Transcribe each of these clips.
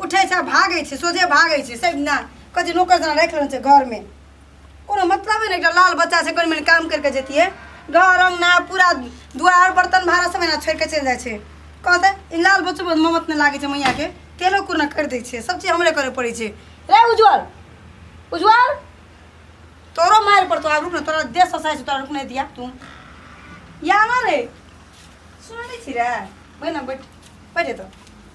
उठै छै भागै छै सोझे भागै छै से नहि कहै छै नौकर जेना राखि लेने छै घरमे कोनो मतलबे नहि एकटा लाल बच्चा छै कनि मनि काम करि कऽ जैतियै घर अङ्गना पूरा दुआर बर्तन भाड़ा सब एना छोड़ि कऽ चलि जाइ छै कहतै ई लाल बच्चो पर ममत नहि लागै छै मैयाके तेलो कुरना करि दै छै सब चीज हमरे करय पड़ै छै रे उज्जवल उज्जवल तोरो मारि पड़तो आब रुक ने तोरा देह ससाइ छै तोरा रुक नहि दिया तू या ना रे सुनै नहि छी रे बैठ ना बैठ बैठ तो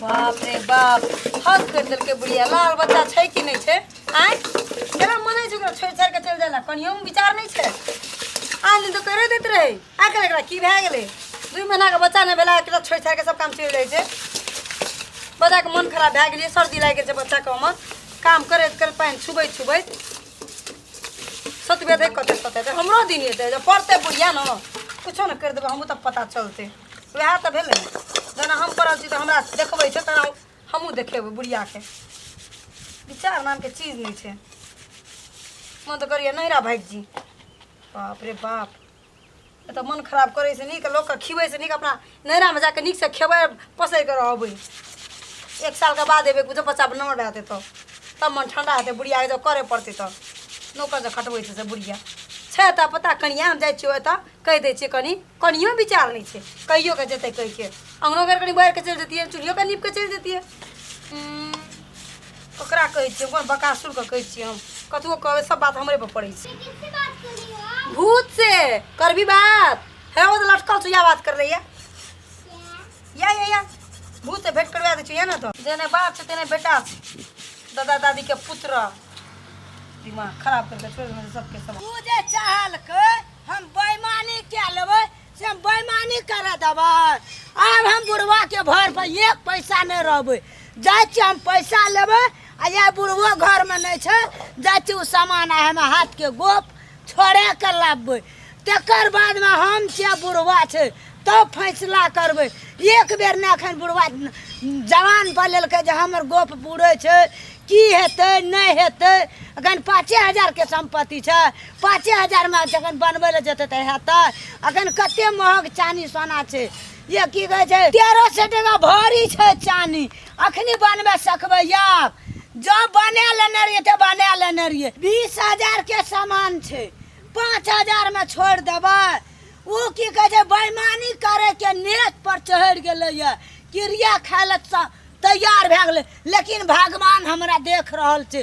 बाप रे बाप हद कर दिल के बुढ़िया लाल बच्चा छै कि नहीं छै आय केना मने छै ओकरा छोड़ छाड़ के चल जाला कनियो में विचार नहीं छै आन दिन तो करे देत रहे आखिर एकरा की भए गेलै दू महीना के बच्चा नहि भेला एकरा छोड़ छाड़ के सब काम चलि जाइ छै बच्चा के मन खराब भए गेलै सर्दी लागि गेल छै बच्चा के हमर काम करैत करैत पानि छुबैत छुबैत सतबे देख कते सते देख हमरो दिन हेतै जब पढ़तै बुढ़िया ने कुछो ने करि देबै हमहूँ तऽ पता चलतै वएह तऽ भेलै ने जेना हम पढ़ल छी तऽ हमरा देखबै छै तेना हमहूँ देखेबै बुढ़ियाके विचार नामके चीज नहि छै मन तऽ करिए नहिरा भागि जी बाप रे बाप ए तऽ मन खराब करै से नीक लोकके खिबै से नीक अपना नैरामे जाके नीकसँ खेबै पोसै कऽ रहबै एक सालके बाद एबै बुझो बच्चा नमर भए जेतै तऽ तब मन ठंडा हेतै बुढ़ियाके जब करे पड़तै तऽ नौकर जे खटबै छै से बुढ़िया छै तऽ पता कनिया हम जाइ छियै ओतऽ कहि दै छियै कनि कनियो विचार नहि छै कहियो के जेतै कहिके अंगनो घर कनि बाहर के चलि जतियै चूल्हियो के नीप के चलि जतियै ओकरा कहै छियै कोन बकासुर के कहै छियै हम कतबो कहबै सब बात हमरे पर पड़ै छै किससे बात कर रही हो आप भूत से करबी बात है वो तो लटकल छो या बात कर रही है या या या भूत से भेंट करवा दै छो या ना तो जेने बाप छे तेने बेटा छे दादा दादी के पुत्र दिमाग खराब करके छोड़ देने सबके सब तू जे चाहल के हम बेईमानी क्या लेबै से हम बेईमानी करे देबै आब हम बुढ़वा के भर पर एक पैसा नहीं रहबै जाइ छी हम पैसा लेबै आ या बुढ़वो घर में नहीं छै जाइ छी ओ सामान आ हम हाथ के गोप छोड़े के लाबबै तकर बाद में हम छियै बुढ़वा छै तब फैसला करबै एक बेर ने एखन बुढ़वा जवान पर लेलकै जे हमर गोप बुढ़ै छै की हेतै नहि हेतै एखन पाँचे हजार के सम्पत्ति छै पाँचे हजारमे जखन बनबै लए जेतै तऽ हेतै अखन कते महग चानी सोना छै ये की कहै छै तेरह सए टाका भरी छै चानी अखनी बनबै सकबै आब जब बना लेने रहियै तऽ बना लेने रहियै बीस हजारके सामान छै पाँच हजारमे छोड़ि देबै ओ की कहै छै बेमानी करैके नेट पर चढ़ि गेलैए क्रिया खाय लए तैयार भए गेलै लेकिन भगवान हमरा देख रहल छै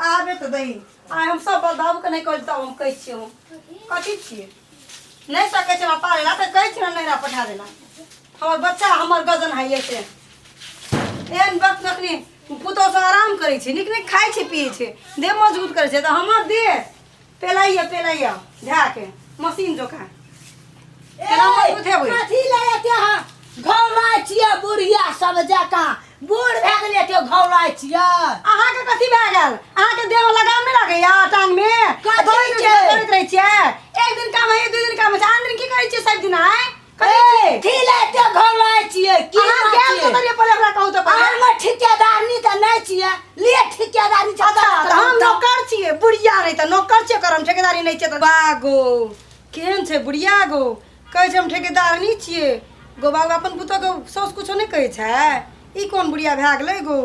आबे तऽ दही आ हम सब बाबू के नहि कहै तब हम कहै छियै हम कथी छियै नहि सकै छै हमरा पाले ला तऽ कहै छियै हमरा नैहरा पठा देला हमर बच्चा हमर गजन है ये से एहन वक्त जखनी पुतहु सब आराम करै छै नीक नीक खाइ छै पियै छै देह मजबूत करै छै तऽ हमर देह पेलाइयो पेलाइयो धा के मशीन जोका केना मत उठे बुझ कथी ले एते ह घौराय छियै बुढ़िया सब जकाँ बूढ़ भए गेल एते घौराय छियै अहाँ के कथी भए गेल अहाँ के देह में लगाम नहीं लगे या टांग में कथी दौड़ैत के? रहै- दौड़ैत रहे छियै एक दिन काम है दू दिन काम है आन दिन की करै छियै सब दिन आए ए की लेते घर लाए छिए की अहाँ बात गेल छिए? के तरिया पहिले हमरा कहू तऽ पहिले अहाँ हमर ठिकेदारनी तऽ नहि छिए लिए ठिकेदारनी छै अच्छा तऽ हम नौकर छियै बुढ़िया नहि तऽ नौकर छियै करम ठेकेदारी नहि छियै तऽ बागो केहन छै बुढ़िया गो कहै छै हम ठेकेदार नहि छियै गो बाबू अपन पुतोके साउस कुछो नहि कहै छै ई कोन बुढ़िया भए गेलै गो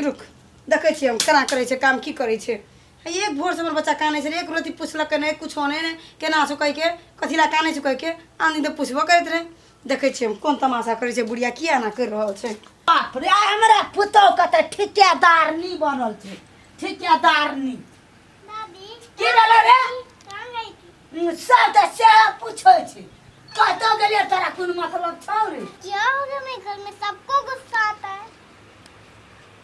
रुक देखै छियै हम केना करै छै काम की करै छै है एक भोर से हमर बच्चा कानै छै एक रति पुछलकै नहि कुछो नहि नहि केना छौ कहिके कथी लए कानै छौ कहिके आन दिन तऽ पुछबो करैत रहै देखै छियै हम कोन तमाशा करै छै बुढ़िया किया एना करि रहल छै बाप रे आइ हमरा पुतोहके तऽ ठिकेदारनी बनल छै ठिकेदारनी की भेलै रे हम्म, सब तऽ सएह पूछै छै कतऽ गेलियै तोरा कोन मतलब छौ रे क्या हो गया मेरे घर में सबको गुस्सा आता है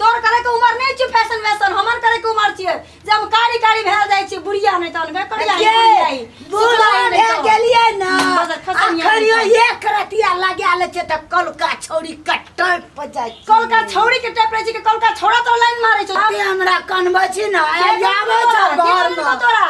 तोर करे के उम्र नहीं छी फैशन वैशन हमर करे के उम्र छिए जे हम कारी कारी भेल जाय छी बुढ़िया नहीं तन के करिया के बुढ़ियाई बूढ़ा भे गेलिए ना बस खतम या अखरियो नहीं। एक रतिया लगा ले छे त कलका छौरी कट्टर प जाय कल का छौरी के टेपरे छी के कल का छौरा तो लाइन मारे छो अबे हमरा कनबै छी ना के जाबो बोलतो छ तोरा? के घर बोलतो में तोरा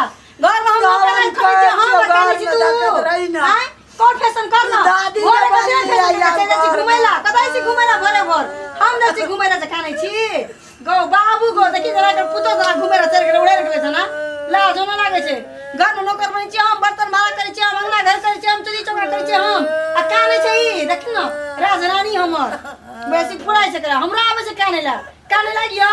घर में हम तोरा बता रहे छी, घर में तू। देखत रही ना। आँय? तोर फैशन कर ना दादी के भोरे बन कते जाइए फैशन करते छी घुमै ला कतै छी घुमै ला भोरे भोर हम नै छी घुमै ला जखा नै छी गौ बाबू गौ देखि जरा कर पुतो जरा घुमै ला चल गेल उड़े गेल छ ना लाज न लागै छै घर में नौकर बनै छी हम बर्तन मारा करै छी हम अंगना घर करै छी हम चुरी चौका करै छी हम आ कानै छै ई देखि न राजरानी हमर बेसी पुराइ छै करा हमरा आबै छै कानै ला कानै लागियो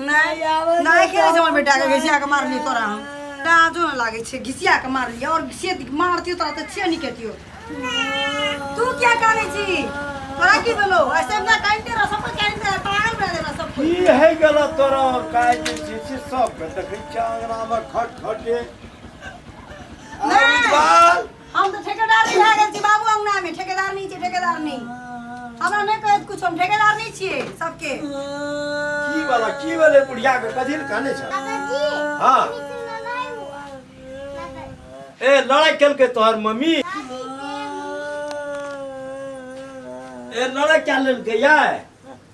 नहि आवाज नहि के छै हमर बेटा के घिसिया के मारली तोरा हम लाजो न लागे छै घिसिया के मारली और घिसिया के मारतियो तोरा त छिया निकतियो तू क्या करे छी तोरा की बोलो ऐसे ना काइन दे रसम पर काइन दे पागल बना दे रसम की है गलत तोरा और काय जे छै से सब के देखै छै अंगना में खट खटे नहीं। अरे बाल हम तऽ ठेकेदार नहि भए गेल छी बाबू अंगनामे ठेकेदार नहि छै ठेकेदार नहि हमरा नहि कहैत कुछ हम ठेकेदार नहि छियै सबके की वाला की वाले बुढ़िया के कथी ले कहने छ हां ए लड़ाई खेल के तोहर मम्मी ए लड़ाई क्या लेल के यार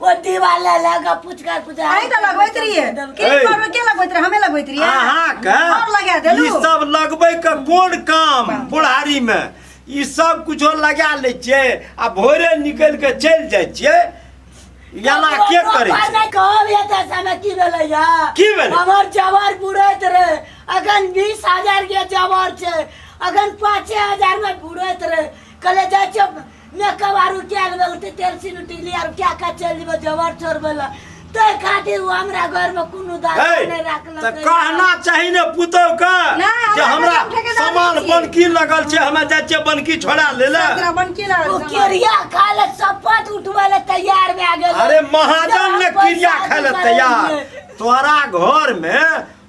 ओ दीवाला लगा पुचका पुचका अहीं तऽ लगबैत रहियै के ए। करबै के लगबैत रहियै हमे लगबैत रहियै अहाँके आओर लगा ई देलू सब लगबै के कोन काम बुढ़ारी मे ई सब कुछो लगा लै छियै आ भोरे निकल के चलि जाइ छियै याला के करै छै नहि कहब या तऽ समय की भेलै या की भेलै? हमर जवार बुढ़ैत रहे अखन बीस हजार के जवार छै अखन पाँचे हजार में बुढ़ैत रहे कहले जाइ छियै मेकवारू क्या लेबे उठे तेल सीन उठी लिया और क्या का चल जेबे जबर छोड़ बोला ते खातिर वो हमरा घर में कोनो दाल हे, नहीं रखल तऽ कहना चाही ने पुतहु के ना, जे हमरा हमरा घर उठे के दाम सामान नहि छै। बनकी लगल छै हमे जाइ छियै बनकी छोड़ा ले ले तोरा बनकी लागल वो सामान। किरिया खा ले चपत उठवे ले तैयार में आ गेल अरे महाजन ने जब क्रिया पैसा खाय ले निकलल तैयार है। तोरा घर में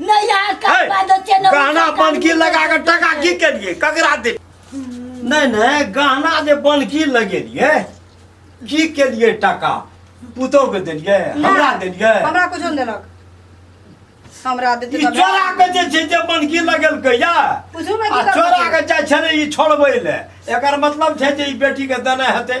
नहीं यहाँ का है, बांधो छे ना गहना उनका बन की कान लगा के में टका की के लिए ककरा दे नहीं नहीं गहना जे बन की लगे लिए की के लिए टका पुतो के देलिए हमरा देलिए हमरा कुछो नहीं देलक हमरा देते ई तब चोरा के जे छै जे बन की लगल के या पूछू ना आ की चोरा करबै के जाइ छले ई छोड़बै ले एकर मतलब छै जे ई बेटी के देने हेतै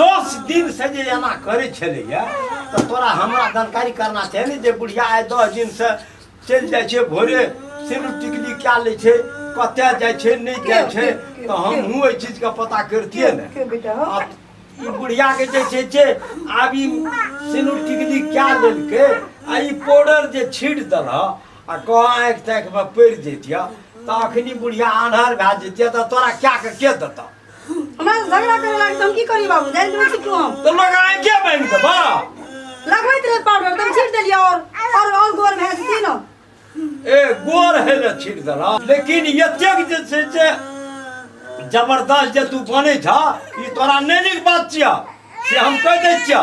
दस दिन से जे एना करै छलैया तऽ तोरा हमरा जानकारी करना चाही ने जे बुढ़िया आइ दस दिन से चलि जाइ छै भोरे सिंदूर टिकली कए लै छै कतए जाइ छै नहि जाइ छै तऽ हमहूँ एहि चीजके पता करितियै ने के बेटा हो आब ई बुढ़िया के जे छै जे आब ई सिनू टिकली क्या लेलकै आ ई पाउडर जे छीट देल आ कह आँखि ताँखि मे पड़ि जैतिया तऽ अखनी बुढ़िया आन्हर भए जैतिया तऽ तोरा क्या के के देता हमरा से झगड़ा करे लागे त हम की करी बाबू जान के छिटू हम तो लोग आए क्या बैंक से बा लगबैत रहे पाउडर तुम छीट देलिए और और और गोर भैंस थी ना ए गोर है ना छिड़ दला लेकिन ये त्याग जे से जे जबरदस्त जे तू बने छा ई तोरा नहीं निक बात छिया से हम कह दे छिया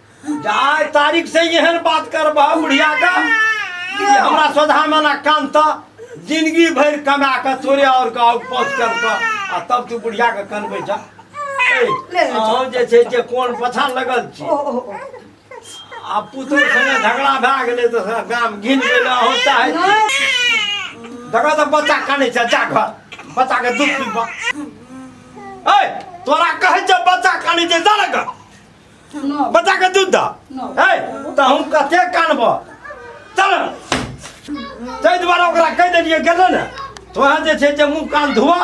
जाय तारीख से एहन बात करबह बुढ़िया का कि हमरा सोधा में ना कान त जिंदगी भर कमा के तोरे और का और पहुंच कर के आ तब तू बुढ़िया के कनबे जा ए, ले जा। अहूँ जे छै जे कोन पछा लगल छी ओ ओ ओ आ पुतोर संगे झगड़ा भए गेलै तऽ सब गाम घिन गेलै अहूँ चाहै छी देखो तऽ बच्चा कानै छै जा घर बच्चा के दूध पीबा ए तोरा कहै छै बच्चा कानै छै जा ने घर न बच्चा के दूध दा न है तऽ हम कते कानब चल ताहि दुआरे ओकरा कहि देलियै गेलै ने तो अहाँ जे छै जे मुँह कान धोआ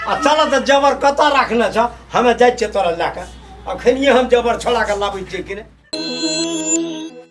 आ चलऽ तऽ जबर कतऽ राखने छ हमे जाइ छियै तोरा लए कऽ अखनिए हम जबर छोड़ा कऽ लाबै छियै कि नहि